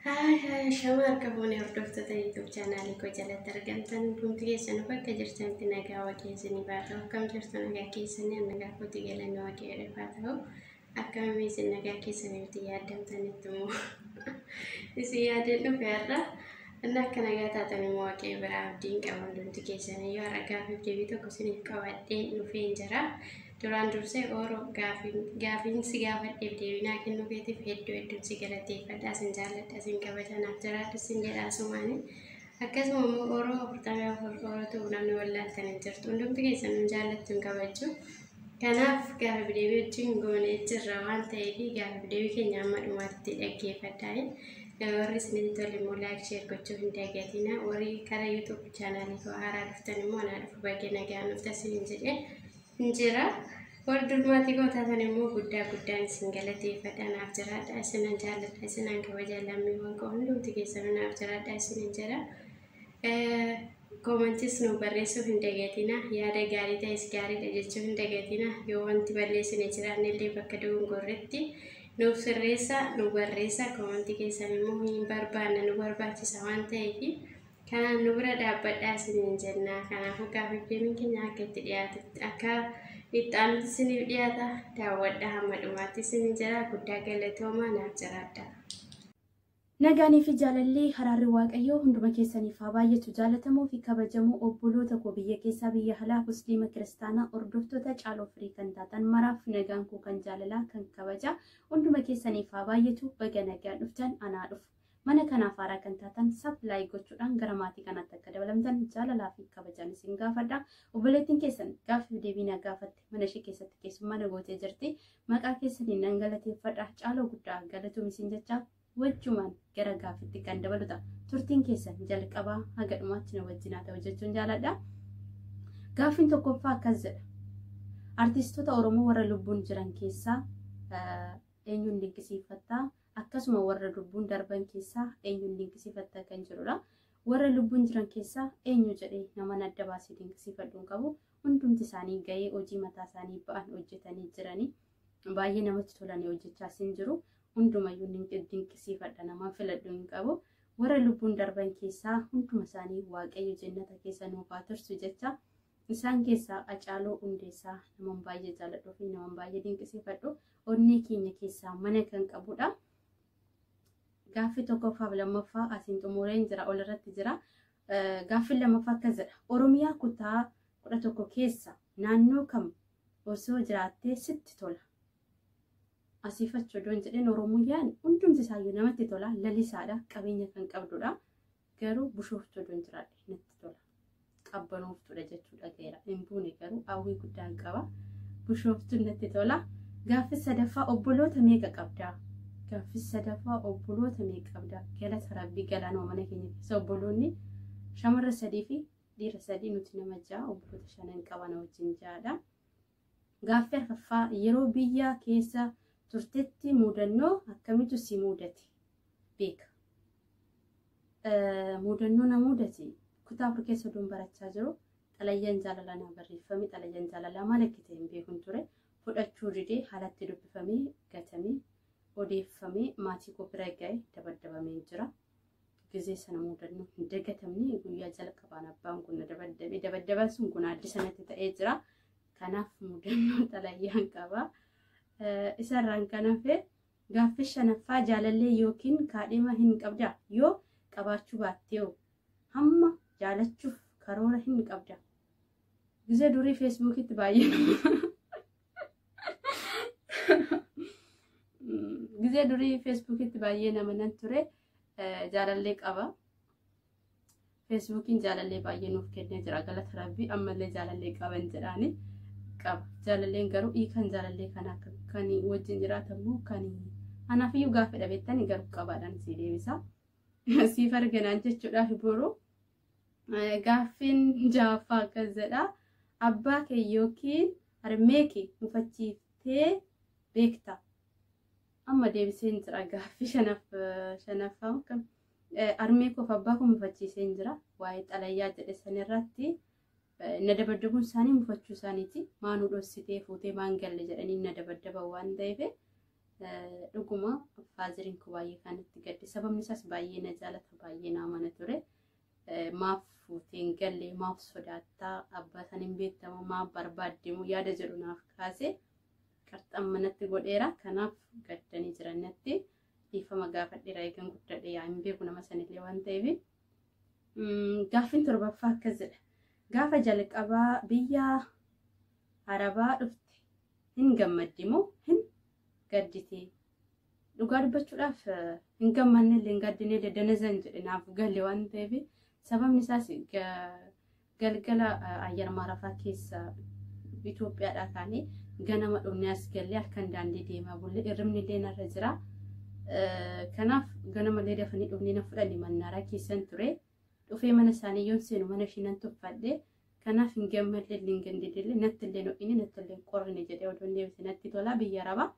Haay haay shama harka boonee hordoftoota YouTube chaanaalii koo jalatti argamtan hundumti keessan bakka jirtanitti nagaa waaqayyo isinii baa ta'u akkam jirtu nagaa keessanii an nagaa kooti galanni waaqayyo dhifaa ta'u akkamii isin nagaa keessanii itti yaadamtanitti immoo isin yaadeen dhufe har'a inni akka nagaa taatan immoo waaqayyo biraa abdiin qaba hundumti keessanii yoo har'a gaaffiif deebii tokko isiniif qabadheen dhufeen jira Duraan dursee Ooro gaafiin gaafiin si gaafadheef deebinaa kennuu keetiif hedduu hedduun si galateeffadha sin jaalladha sin kabaja naaf jiraadhu sin jedha asumaani akkasuma immoo Ooro afurtamii afur Oorotu namni wallaaltan hin jirtu hundumti keessan nu jaallattu hin kabajju kanaaf gaafiif deebii wajjin goonee jirra waan ta'eef gaafiif deebii keenya amma dhumaatti dhaggeeffadhaa warri isinitti tole immoo laayik sheer gochuu hin dagatina warri kara yuutuub chaanaalii koo haaraa dhuftan immoo anaa dhufu baga nagaan dhuftan isiniin jedhee hin jira. Warri durmaatii koo taatan immoo guddaa guddaan isin galateeffadha naaf jiraadha isinan jaalladha isinan kabaja lammiiwwan koo hundumti keessanuu naaf jiraadha isinin jira. Eh, Koomantis nu barreessuu hin dagatina yaada gaarii ta'es gaariidha jechuu hin dagatina yoo wanti balleessine jiraanne illee bakka dogongorretti nuuf sirreessa nu barreessa koomantii keessan immoo hin barbaanna nu barbaachisa waan ta'eef Kanaan nu bira dhaabbadhaa isiniin jenna. Kanaafuu gaafii deebiin keenya akka itti dhiyaatutti akka itti aanutti isiniif dhiyaata. Daawwadhaa hamma dhumaatti isiniin jira. Guddaa galatoomaa naaf jiraadhaa. Nagaanii fi jaalallee haraarri waaqayyoo hunduma keessaniif haa baay'atu jaalatamoo fi kabajamoo obboloota koo biyya keessaa biyya alaa musliima kiristaanaa hordoftoota caaloo firii kan taatan maraaf nagaan koo kan jaalalaa kan kabajaa hunduma keessaniif haa baay'atu baga nagaan dhuftan anaa dhufu. Mana kanaaf haaraa kan taatan sub like gochuudhaan gara maatii kanaatti akka dabalamtan jaalalaa fi kabajaan isin gaafadha. Obboleettiin keessan gaaffiif deebii na gaafatte mana ishee keessatti keessummaa na gootee jirti. Maqaa keessaniin nan galateeffadha. Caaloo guddaa galatoom isin jecha wajjumaan gara gaaffitti kan dabalu ta'a. Turtiin keessan jalqabaa haga dhumaatti na wajjin haa ta'u jechuun jaaladha. Gaaffiin tokkoffaa akkas jedha. Artistoota Oromoo warra lubbuun jiran keessaa eenyuun dinqisiifattaa? akkasuma warra lubbuun darban keessaa eenyuun dinqisiifatta kan jedhudha. Warra lubbuun jiran keessaa eenyu jedhee naman adda baasee dinqisiifadhu hin qabu. Hundumti isaanii ga'ee hojii mataa isaanii ba'an hojjetanii jiranii baay'ee namatti tolanii hojjechaas hin jiru. Hundumayyuu dinqisiifadha naman filadhu hin qabu. Warra lubbuun darban keessaa hunduma isaanii waaqayyo jennata keessa nuuf haa tursu jecha Isaan keessaa Hacaaluu Hundeessaa naman baay'ee jaaladhuu fi naman baay'ee dinqisiifadhu onnee keenya keessaa mana kan qabudha. Gaaffii tokkoffaa fi lammaffaa asiin xumureen jira ol irratti jira. Gaaffiin lammaffaa akkas jedha. Oromiyaa kutaa kudha tokko keessa naannoo kam osoo jiraattee sitti tola? Asiif achi odoon jedheen Oromiyaan hundumti isaayyuu namatti tola lalisaadha qabeenya kan qabdudha. Garuu bushooftuu odoon jiraadhe natti tola. Qabbanooftuudha jechuu dhagaheera. Hin buune garuu hawwii guddaan qaba. Bushooftuun natti tola. Gaaffii sadaffaa obboloota meeqa qabdaa? Gaaffii sadaffaa obboloota meeqa qabdaa? Galata rabbii galaanuma mana keenya keessa obboloonni shamarra sadii fi dhiira sadii nuti nama ja'a obboloota shanan qabana wajjin ja'adha. Gaaffii arfaffaa, Yeroo biyya keessa turtetti muudannoo akkamitu si muudate? Beeka. Muudannoo na muudate kutaa afur keessa oduun barachaa jiru xalayyaan jaalalaa naa barreeffame xalayyaan jaalalaa maal akka ta'e hin beekun ture fudhachuu didee haalatti dubbifamee gatamee odeeffamee maatii koo bira ga'e dabaddabamee jira. Gizee sana mudannoo hin dagatamne guyyaa jalqabaan abbaan kun na dabaddabe. Dabaddaban sun kun addi sanatti ta'ee jira. Kanaaf mudannoo xalayyaan qaba. Isarraan kan hafe gaaffii shanaffaa jaalallee yookiin kaadhima hin qabda yoo qabaachuu baattee hamma jaalachuuf karoora hin qabda. Gizee durii feesbuukitti baay'ee Gizee durii feesbuukitti baay'ee nama nan ture jaalallee qaba. Feesbuukiin jaalallee baay'ee nuuf kennee jira galata rabbii ammallee jaalallee qaban jedhaani qaba. Jaalalleen garuu hiikan jaalallee kana akka kan wajjin jiraatamu kan anaafiyyuu gaafadha beektani garuu qabaadhaan si deebisa. Siif arginaan jechuudhaaf boruu. Gaaffiin ja'affaa akkas jedha. Abbaa kee yookiin harmee kee mufachiiftee beekta. Amma deebiseen jira gaaffii shanaffaa kan harmee koof abbaa koo mufachiiseen jira. Waa'ee xalayaa jedhe sanirratti na dabaddabuun isaanii mufachuu isaaniiti. Maanuu dhossitee fuutee maan galle jedhanii na dabaddaban waan ta'eef Dhuguma faaziriin koo baay'ee kan itti gadde sababni isaas baay'ee na jaalata baay'ee na amana ture. Maaf fuuteen galle maaf sodaattaa abbaa san hin beektamu maaf barbaaddimu yaada jedhu naaf kaase qarxan manatti godheera kanaaf gaddanii jiran natti dhiifama gaafadheera eegan guddadhe yaa hin beeku nama sanillee waan ta'eef. Gaaffiin torbaffaa akkas jedha. Gaafa jalqabaa biyya Arabaa dhufte hin gammaddi moo hin gadditi? Dhugaa dubbachuudhaaf hin gammanne illee hin gaddine illee danazan jedhe naaf gale waan ta'eef sababni isaas galgala ayyaan maarafaa keessa Itoophiyaadhaa kaanee ganama dhumnee as gallee halkan daandii deemaa bulle irribni illee narra jira. Kanaaf ganama illee dafanii dhumnee na fudhanii mannaaraa keessan ture. Dhufee mana isaanii yoon seenu mana ishii nan tuffadhe. Kanaaf hin gammadle illee hin gandidille natti illee ho'ine natti illee hin qorrine jedhee odoon deebise natti tola biyya arabaa.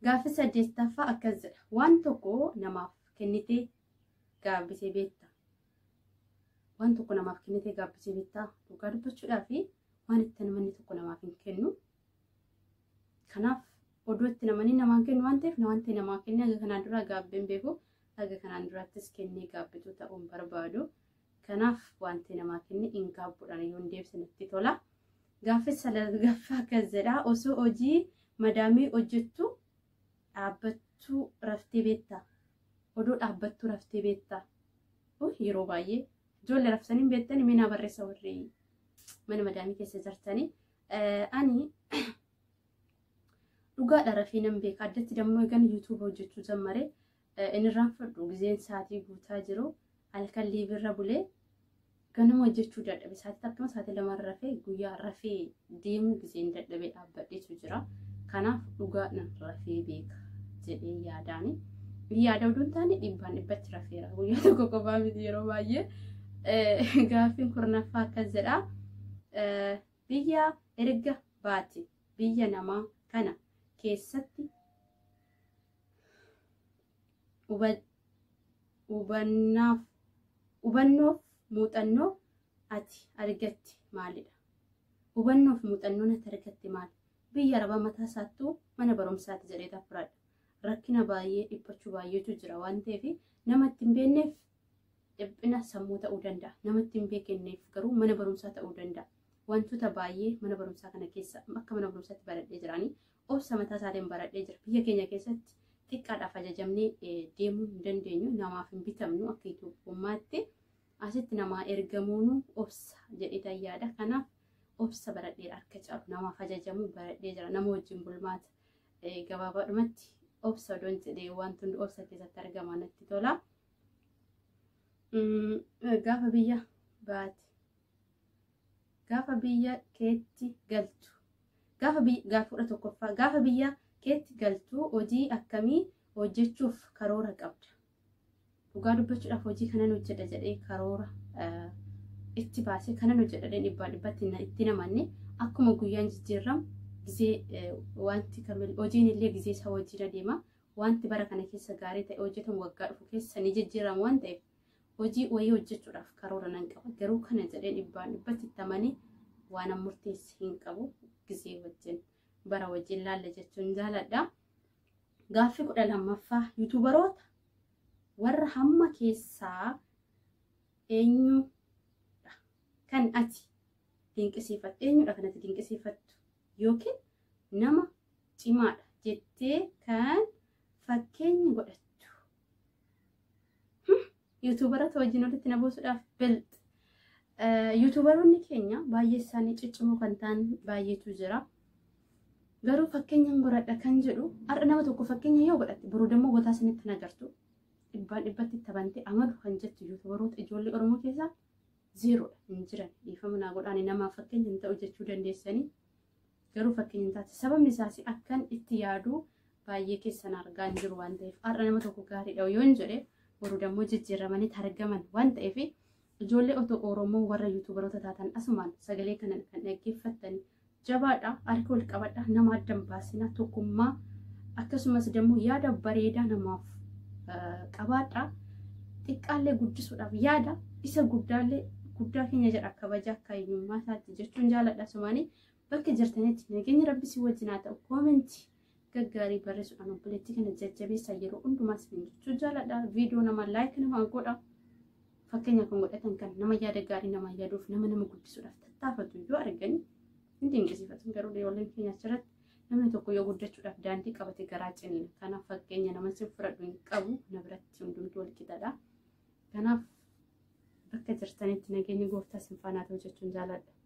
Gaaffi saddeettaffaa akkas jedha. Waan tokko namaaf kennitee gaabbisee beekta. Waan tokko namaaf kennitee gaabbisee beekta. Dhugaa dubbachuudhaaf waan itti namni tokko namaaf hin kennu. Kanaaf oduu itti namanii namaan kennu waan ta'eef wanti namaa kenne haga kanaan duraa gaabbeen beeku haga kanaan duraattis kennee gaabbituu ta'uun barbaadu. Kanaaf wanti namaa kenne hin gaabbuudhaan yoo hin deebisne natti tola. Gaaffii salgaffaa akkas jedha osoo hojii madaamii hojjettu dhaabbattuu raftee beekta. Odoo dhaabbattuu raftee beekta. Yeroo baay'ee ijoollee raftanii beektanii mee naa barreessa warri mana madaamii keessa jirtanii. Ani dhugaadha rafee nan beeka addatti dammoo egan yuutuuba hojjechuu jammare inirraan fudhu gizeen saatii guutaa jiru halkan liibirra bulee ganama hojjechuu dadhabe saatii takkuma saatii lama rafee guyyaa rafee deemuu gizeen dadhabee dhaabbadheetu jira kanaaf dhugaadhan rafee beeka jedhee yaadaani yaada oduun taane dhibbaan dhibbatti rafeera guyyaa tokko qofaa miti yeroo baay'ee gaaffiin kurnaffaa akkas jedha. Biyyaa erga baate biyya namaa kana keessatti hubannoof muuxannoo ati argatte maalidha? Hubannoof muuxannoon ati argatte maali? Biyya arabaa mataa isaattuu mana barumsaati jedhee tafradha. Rakkina baay'ee dhiphachuu baay'eetu jira waan ta'eef nama itti hin beekneef Dhiphina sammuu ta'uu danda'a. Namatti hin beekenneef garuu mana barumsaa ta'uu danda'a. Wantoota baay'ee mana barumsaa kana keessa akka mana barumsaatti baradhee jiraanii obsa mataa isaatiin baradhee jira. Biyya keenya keessatti xiqqaadhaaf ajajamnee deemuu hin dandeenyu. Namaaf hin bitamnu akka Itoophiyummaatti. Asitti namaa ergamuun obsa jedhee tayyaadha. Kanaaf obsa baradhee harka caalu namaaf ajajamuu baradhee jira. Nama wajjin bulmaata gabaabaadhumatti obsa odoon jedhee wantoonni obsa keessatti argaman natti tola. gaafa biyya baate gaafa biyya keetti galtu gaafa gaafudha tokkoffaa gaafa biyya keetti galtu hojii akkamii hojjechuuf karoora qabda dhugaa dubbachuudhaaf hojii kanan hojjedha jedhee karoora itti baasee kanan hojjedha jedhee dhibbaa dhibbatti itti namanne akkuma guyyaan jijjiirramu gizee wanti kamil hojiin illee gizee isaa wajjin adeema Wanti bara kana keessa gaarii ta'e hojjetamu waggaa dhufu keessa ni jijjiirama waan ta'eef hojii wayii hojjechuudhaaf karoora nan qaba. Garuu kana jedhee dhibbaan dhibbatti itti amanee waanan murteesse hin qabu gizee wajjin bara wajjin laalla jechuun jaaladha. Gaaffii kudha lammaffaa yuutuubaroota warra hamma keessaa eenyudha kan ati dinqisiifattu eenyudha kan ati dinqisiifattu yookiin nama cimaadha jettee kan fakkeenya godhattu. Yuutuubarota wajjin walitti na buusuudhaaf bilx. Yuutuubaroonni keenya baay'ee isaanii ciccimoo kan ta'an baay'eetu jira. Garuu fakkeenyaan godhadha kan jedhu har'a nama tokko fakkeenya yoo godhatte boruu dammoo botaa isinitti hin agartu. Dhibbaan dhibbatti tabante amadu kan jettu yuutuubaroota ijoollee Oromoo keessaa zeeroodha hin jiran. Dhiifama naa godhaani namaaf fakkeenya hin ta'u jechuu dandeessanii. Garuu fakkeenya hin taate. Sababni isaas akkan itti yaadu baay'ee keessan argaa hin jiru waan ta'eef har'a nama tokko gaariidha yoo hin jedhe boru dammoo jijjiiramanii targaman waan ta'eef ijoollee otoo Oromoo warra yuutuubaroota taatan asumaan sagalee kana kan dhaggeeffattan jabaadha harka wal qabadha nama addan baasina tokkummaa akkasumas dammoo yaada bareedaa namaaf qabaadha xiqqaallee guddisuudhaaf yaada isa guddaallee guddaa keenya jedha kabaja akka eenyummaa isaatti jechuun jaaladha sumaanii bakka jirtanitti nageenya rabbi si wajjin haa ta'u koomentii gaggaarii barreessuudhaan obboleettii kana jajjabeessaa yeroo hundumaa isin jechuu jaaladha viidiyoo nama laayik nama godha fakkeenya kan godhatan kan nama yaada gaarii nama yaaduuf nama nama guddisuudhaaf tattaafatu yoo argan hin dinqisiifatan garuu ijoolleen keenya achirratti namni tokko yoo guddachuudhaaf daandii qabate garaa ciniina kanaaf fakkeenya nama sin fudhadhu hin qabu na biratti hundumtuu wal qixadha kanaaf bakka jirtanitti nageenya gooftaa sin faanaa ta'u jechuun jaaladha.